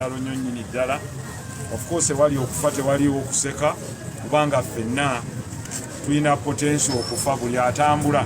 Kyalo nnyo nnyini ddala of course ewali okufa tewaliwo okuseka kubanga ffenna tulina potensi okufa buli atambula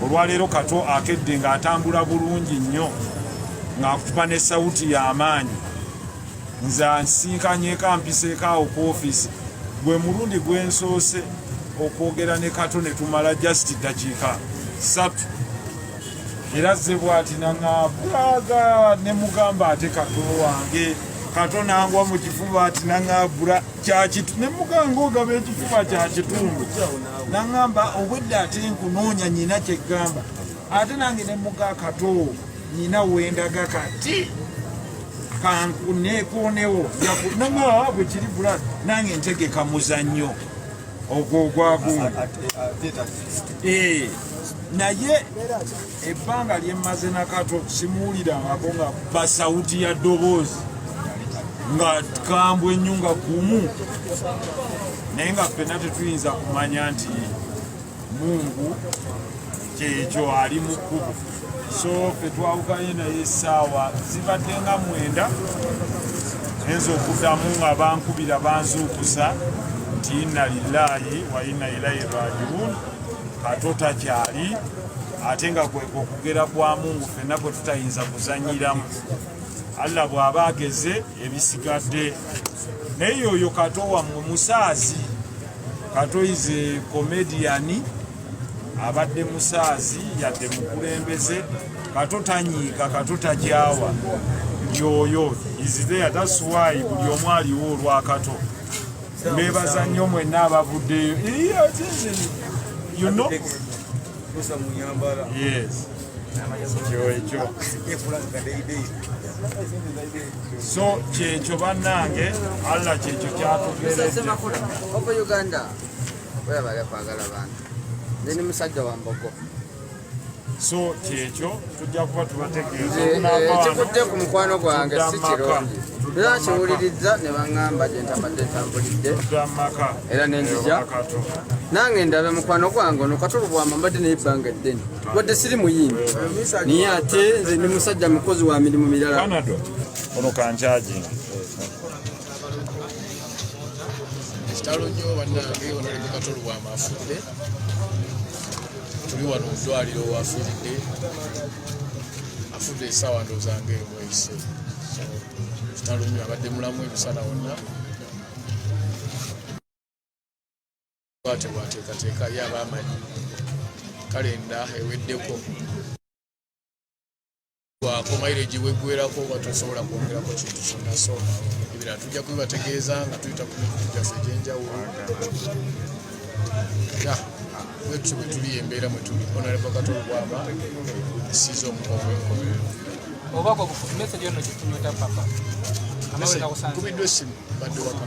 olwaleero kato akedde ng'atambula bulungi nnyo ng'akutupa ne sawuti y'amaanyi nze ansinkanyeko ampiseeko awo ku ofiisi gwe mulundi gwensoose okwogera ne kato ne tumala just ddakiika satu era ze bwati naŋabulaga ne mugamba ate kato wange kato nangwa mu kifuba ati naŋabula kyakitu ne muganga ogaba ekifuba kya kitundu naŋamba obwedda ate nkunoonya nyina kyegamba ate nange ne muga kato nyina wendaga kati kankunekonewo naŋaa bwekiri bula nange ntegeka muzannyo ogwo ogwagumu eh, naye ebbanga lyemmaze nakato simuwulirangako nga basawuti ya ddoboozi nga kambwe ennyo nga gumu naye nga ffena tetuyinza kumanya nti mungu kyekyo ali mu kkubo so fe twawukanye naye essaawa zibadde nga mwenda enza okuddamu nga bankubira banzuukusa nti inna lillahi wa inna ilaihi rajiun ate otakyali ate nga kweka okugera kwa mungu fenna kwe tutayinza kuzanyiramu allah bw'aba ageze ebisigadde naye yoyo kato wammwe musaazi Kato is a comedian abadde musaazi yadde mukulembeze kato tanyiika kato takyawa yoyo is there that's why buli omu aliwo olwakato mbebaza nnyo mwenna abavuddeyo yes ekyo ekyo so kyekyo banange allah kyekyo kyatugereeuganda webale kwagala bantu ndi musajja wa mbogo so kyekyo tujja kuba tubategeezaekikudde eh, ku mukwano gwange si kirungi era kiwulirizza ne baŋŋamba gye ntabadde ntambulidde era nenzija nange ndabe mukwano gwange ono katulubwama mbadde naye ebbanga eddene wadde siri muyimbi naye ate nze ndi musajja mukozi wa mirimu mirala ono kankyagi kitalo nnyo bannange ono oli mukatolo wa mafudde tuli wano mudwaliro wafiridde afudde esawa ndozanga emwese kitalo nnyo abadde mulamu ebisana wonna Bwatyo bwateekateeka ye aba amanyi kalenda eweddeko bwakomaire egiweggwerako oba tosobola kwongerako kintu kyonna so ebirala tujja kubibategeeza nga tuyita ku mikutu gyaffe egyenjawulo ya bwetyo bwe tuli embeera mwe tuli onaleva katolo bwaba esiiza omukovu enkomerero obubaka obufupi message yono kitunyota papa kubiddwa essimu badde waka